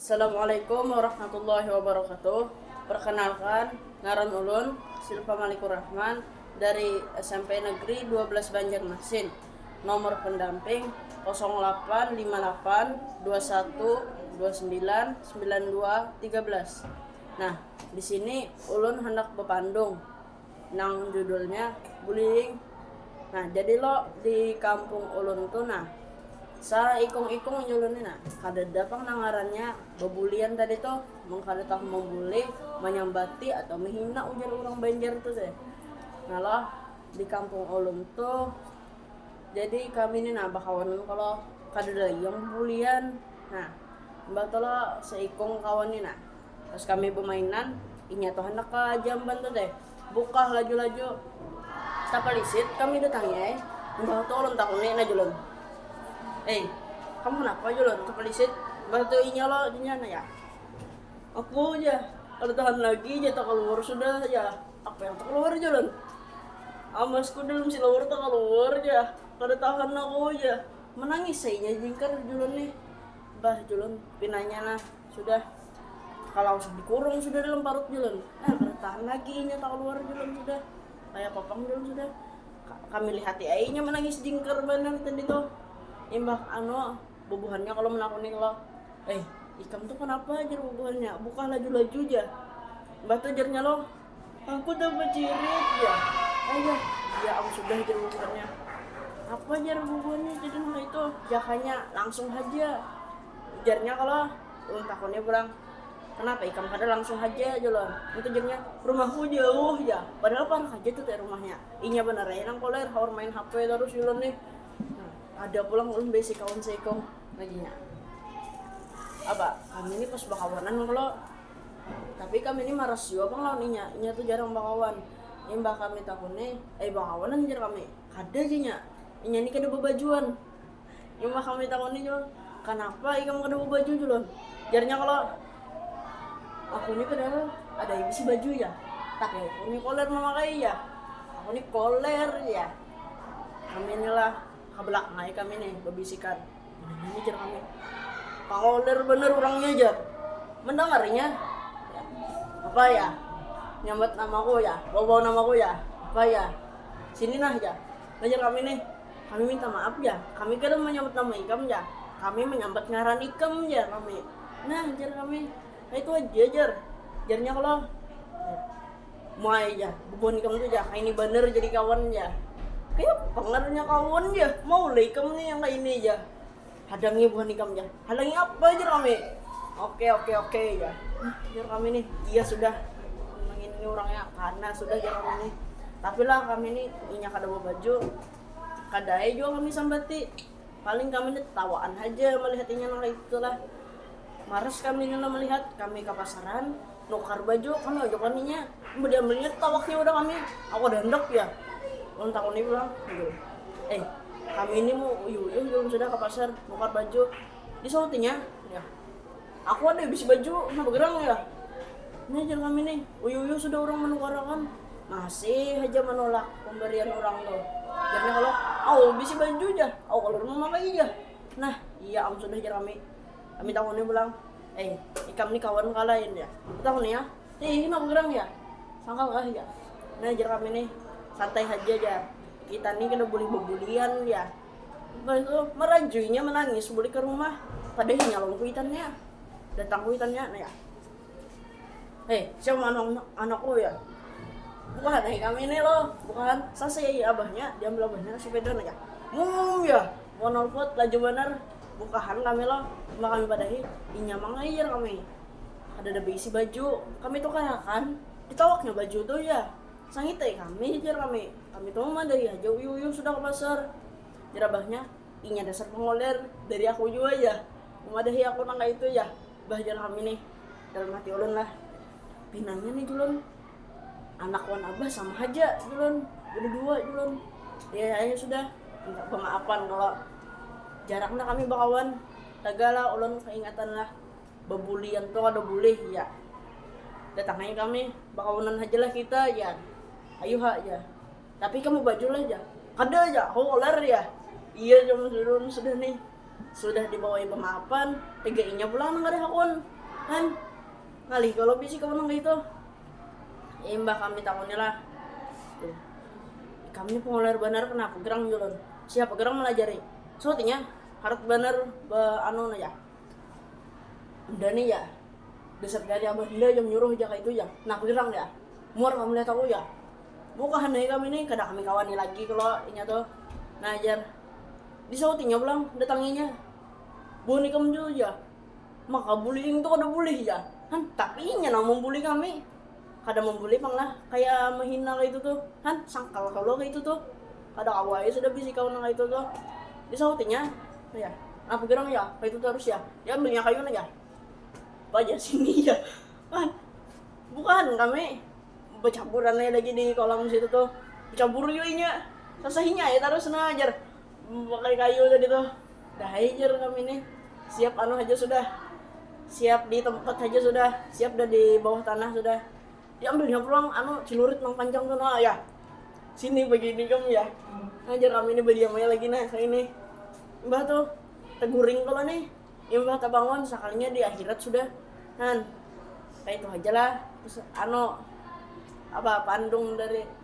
Assalamualaikum warahmatullahi wabarakatuh Perkenalkan, ngaran ulun Silva Malikur Rahman dari smp Negeri dua belas Banjarmasin, nomor pendamping kosong lapan lima lapan dua satu dua sembilan sembilan dua tiga belas. Nah, di sini ulun handak bapandung. nang judulnya Bullying. Nah, jadi lo di kampung ulun tuh nah, saikung-ikung nyulun ni nah, kadada pang nang ngarannya babulian tadi tuh, mun kada tahu mambuli, manyambati atau mahina ujar urang Banjar tuh teh. Nah lo, di kampung ulun tuh, jadi kami ni nah bakawanan kalo, kadada lagi yang babulian. Nah, imbah tu lo saikung kawan ni nah. Pas kami bamainan, inya tu handak ka jamban tu deh, bukah laju-laju. Tapalisit kami datangi ai, imbah tu ulun takuni nah Julun, Ei, kamu napa Julun tapalisit? Imbah tu inya lo inya nanya, Aku jar, kada tahan lagi jar takaluar sudah jar. Apa yang takaluar Julun? Amasku dalam silawar takaluar jar, kada tahan aku jar. Manangis ai inya jingkar Julun nih. Bah Julun pinanya nah. Sudah kalau dikurung sudah dalam parut Julun, nah kada tahan lagi inya kaluar Julun sudah, kaya kopang Julun sudah. Kami lihati ai inya manangis jingkar banar tadi tuh. Imbah anu bubuhannya kalo manakuni kalo, eh ikam tuh kanapa jar bubuhannya bukah laju-laju jar. Imbah tuh jarnya lo, aku dah bacirit jar. Ayah, iya am sudah jar bubuhannya. Apa jar bubuhannya jadi nang kaya itu, jakanya langsung haja. Ujarnya kalo, ulun takuni pulang, kanapa ikam kada langsung haja jar ulun. Ngitu jawabnya, rumahku jauh jar, padahal parak haja tu te rumahnya. Inya banar ai nang koler haur main hp tarus jar ulun nih. Ada pulang ulun baisi kawan saikung lagi nya. Apa, kami nih pas bakawanan kalo, tapi kami nih maras jua pang lawan inya, inya tu jarang bakawan. Imbah kami takuni, ai bakawanan jar kami, kada jar inya, inya nih kada babajuan. Imbah kami takuni Julon, kanapa ikam kada babaju Julon? Jarnya kolor, aku ni padahal ada ai bisi baju jar, tapi aku ni koler mamakai jar, aku ni koler jar. Kami ni lah hablakan ai kami ni babisikan, ini jar kami koler banar urangnya jar, mandangarinya apa yah nyambat namaku yah, bawa bawa namaku yah apa yah sini nah jar, nah jar kami nih. Kami minta maaf jar, kami kada manyambat nama ikam jar, kami manyambat ngaran ikam jar kami. Nah jar kami, kaitu haja jar, jarnya kalo muai jar bubuhan ikam tu jar kaini banar jadi kawan jar, kayapa pangaranya kawan jar, mau lah ikam ni yang kaini jar. Hadangi buhan ikam ja. Hadangi apa jar kami. Oke oke oke jar. Jar kami nih, iya sudah ini orangnya karena sudah jar kami nih. Tapi lah kami ini inya kada baju kada ai jua kami sambati. Paling kami ini tawaan haja melihat inya nang kaya itu lah. Maras kami ini lah melihat, kami ka pasaran, Nukar ba jua kami ojok laminya, badiam lilit tawaknya udah kami, aku kada handak jar, ulun takuni pulang, eh kami ini mu uyuh uyuh jar ulun sudah ka pasar nukar baju, di sautinya jar, aku ada bisi baju napa gerang jar, nah jar kami nih uyuh uyuh sudah urang manukar akan masih haja manolak pambarian urang tuh, jarnya kalo au bisi baju jar au kalu ulun mamakai jar, nah iya am sudah jar kami, kami takuni pulang. Ei, ikam ni kawan kah lain jar. Tahu nih ah, hei hina bagerang jar. Sangkal kah jar. Nah jar kami nih, santai haja jar. Kita nih kada bulih babulian jar. Imbah itu, marajui nya manangis bulik ka rumah. Kada hinya lawan kuitan nya. Datang kuitan nya nah jar. Hei, siapa man am anakku jar. Bukahan ai kami nih lo, bukahan. Sasai ai abahnya, diambil abahnya sapeda nah jar. Muum jar. Monolput laju banar, bukahan kami lo, imbah kami badahi, inya mangair kami. Kadada baisi baju, kami tukar akan, ditawaknya baju tu jar. Sangit ai kami, jar kami, kami tu mamadahi haja uyuh-uyuh sudah ka pasar. Jar abahnya, inya dasar pangoler, dari aku jua jar, mamadahi aku nang kaitu jar bah jar kami nih, dalam hati ulun lah, pinanya nih julun. anak wan abah sama haja ulun bada dua ulun ya akhirnya sudah minta pemaafan kalo jarang nah kami bakawan tagal lah ulun kaingatan lah babulian tu kada bulih ya datang haja kami bakawanan haja lah kita jar ayu ha jar tapi ikam babaju lah jar kada jar aku koler jar iya jar mun jar ulun sudah nih sudah dibawai pemaafan tiga inya pulang nang kada hakun kan. Ngalih kalo bisi kawan nang kaitu. Imbah kami takunilah. Ikam ni pangular banar kenapa gerang julun? Siapa gerang malajari? Suut inya, harat banar ba anu nah jar. Unda ni jar, dasar kaya ada abah unda ja manyuruh ja kaitu jar. Kenapa gerang jar? Muar kam lihat aku jar. Bukahan ai kami ni kada kami kawani lagi kalo inya tu. Nah jar, disaut inya pulang, datangi inya. Buhan ikam tu jar. Maka bullying tu kada bulih ja han tapi inya nang membuli kami kada membuli pang lah kaya menghina kaitu tu han sangkal kalo kaitu tu kada kawa ai sudah bisi kawan nang kaitu tu disahutinya ya nah pagirang ya kaitu tarus ya diambil nya kayunya ja baja sini ja han buhan kami bacaburan ai lagi di kolam situ tu bacabur jua inya sasahinya ai tarus nang ajar. Memakai kayu tadi tu. Dah ai jar kami nih. Siap anu haja sudah. Siap di tempat haja sudah. Siap dah di bawah tanah sudah. Diambilnya pulang anu celurit nang panjang tu nah yah. Sini bagini kam yah. Nah jar kami nih badiam ai lagi nah kaya ini. Imbah tu teguring kalo nih. Imbah tebangun sakalinya di akhirat sudah. Nah kaya itu haja lah anu apa pandung dari.